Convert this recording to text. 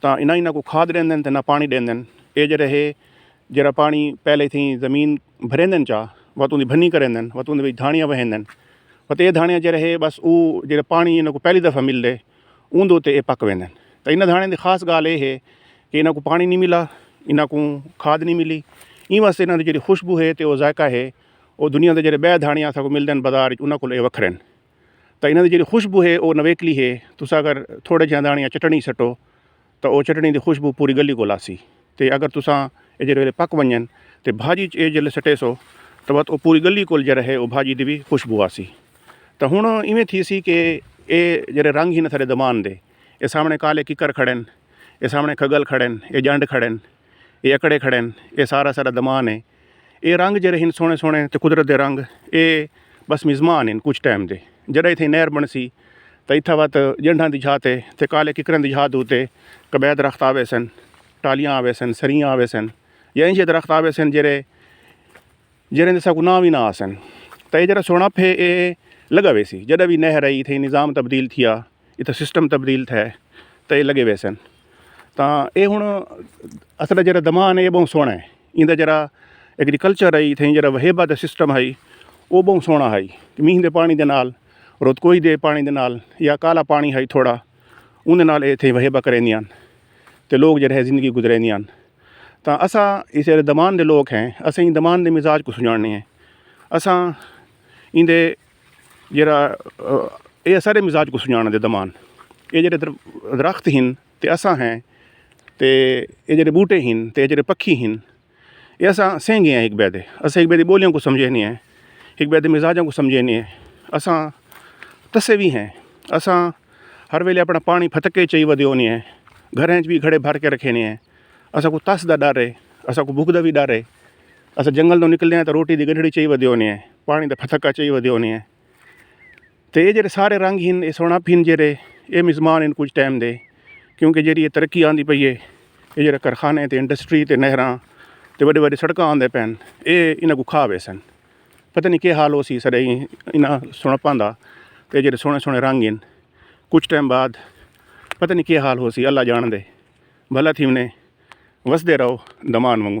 تاں نہ انہاں کوں کھاد ݙیندن تے نہ پاݨی ݙیندن، ایہ جیڑھے ہے جیڑھا پاݨی پہلے تھیں زمین بھریندن چا وت اوندی بھنی کریندن وت اوندے وچ دھاݨیاں وہیندن وت ایہ دھاݨیاں جیڑھے ہے بس او جیڑھے پاݨی انہاں کوں پہلی دفعہ ملدے اوندے اتے ایہ پک ویندن تاں انہاں دھاݨیاں دی خاص ڳالھ ایہ ہے کہ انہاں کوں پاݨی نی ملا انہاں کوں کھاد نی ملی ایں واسطے انہاں دی جیڑھی خوشبو ہے تے او ذائقہ ہے او دنیا دے جیڑھے ٻئے دھاݨیاں اساں کوں ملدن بازار وچ انہاں کولوں ایہ وکھرے ہن۔ تاں انہاں دی جیڑھی خوشبو ہے او نویکلی ہے، تساں اگر تھوڑے جیہاں دانڑیاں چٹنڑی سٹو تاں او چٹنڑی دی خوشبو پوری گلی کول آسی تے اگر تساں اے جیڑھے ویلے پک ونجن تے بھاجی اچ اے جیڑھے سٹیسو تاں وت او پوری گلی کول جیڑھا ہے او بھاجی دی وی خوشبو آسی تاں ہنڑ ایویں تھیسی کہ اے جیڑھے رنگ ہن اساڈے زبان دے اے سامنڑے کالے ککر کھڑن اے سامنڑے کھگل کھڑن اے جنڈ کھڑن۔ اے اکڑے کھڑے ہن اے سارا سارا دمان ہے اے رنگ جیرے ہن سونے سونے تے قدرت دے رنگ اے بس مزمان ہن کچھ ٹائم دے جیرا ایتھے نہر بن سی تے ایتھا وت جنڈھاں دی جھا تے تے کالے ککرن دی جھا دو تے کبے درخت آوے سن ٹالیاں آوے سن سریاں آوے سن یا انجھے درخت آوے سن جیرے جیرے دے سا کو نام وی نہ آسن تے جیرا سونا پھے اے لگا وے سی جیرا وی نہر آئی تھے نظام تبدیل تھیا اتھے سسٹم تبدیل تھے تے ایہ لگے ویسن تاں ایہ ہن اساں دا جیڑھا دماغ ہے ایہ بہوں سوہنڑا ہے ایندا جیڑھا ایگریکلچر ہے اتھے جیڑھا وہیبہ دا سسٹم ہے اوہ بہوں سوہنڑا ہے مینہ دے پانڑی دے نال رتکوئی دے پانڑی دے نال یا کالا پانڑی ہے تھوڑا اوندے نال ایہ اتھے وہیبہ کریندیاں تے لوگ جیڑھے ہے زندگی گزریندیاں تاں اساں اس جیڑھے دمان دے لوگ ہیں اساں دمان دے مزاج کوں سنجانڑنے ہیں اساں ایندے جیرھا اے اساڈے مزاج کوں سنجانا دے دمان اے جیرھے درخت ہن تے اساں ہیں تے اے جیرھے بوٹے ہن تے اے جیرھے پکھی ہن اے اساں سینگے ہیں ہک بئے دے اساں ہک بئے دی بولیاں کوں سمجھے نے ہیں ہک بئے دے مزاجاں کوں سمجھے نے ہیں اساں تسے وی ہیں اساں ہر ویلے اپنا پانی پھتکے چائی ودے ہونے ہیں گھراں اچ وی گھڑے بھر کے رکھے نے ہیں اساں کوں تس دا ڈر ہے اساں کوں بھوک دا وی ڈر ہے اساں جنگل توں نکلے ہیں تو روٹی دی گڈھڑی چاہی ودے ہونے ہیں پانی دا پھتکا چاہی ودے ہونے ہیں تو یہ جڑے سارے رنگ ہن یہ سونا پھن جڑے یہ مزمان ان کچھ ٹائم دے کیونکہ جیڑی یہ ترقی آندی پئی ہے یہ جڑے کارخانے تے انڈسٹری تے نہراں تے وڈے وڈے سڑکاں آندے پین اے انہاں کو کھا ویسن پتہ نہیں کہ حال ہو سی سڑے انہاں سونا پاندا تے جڑے سونے سونے رنگ ہن کچھ ٹائم بعد پتہ نہیں کہ حال ہو سی اللہ جان دے بھلا تھی انہیں وسدے رہو دمان منگو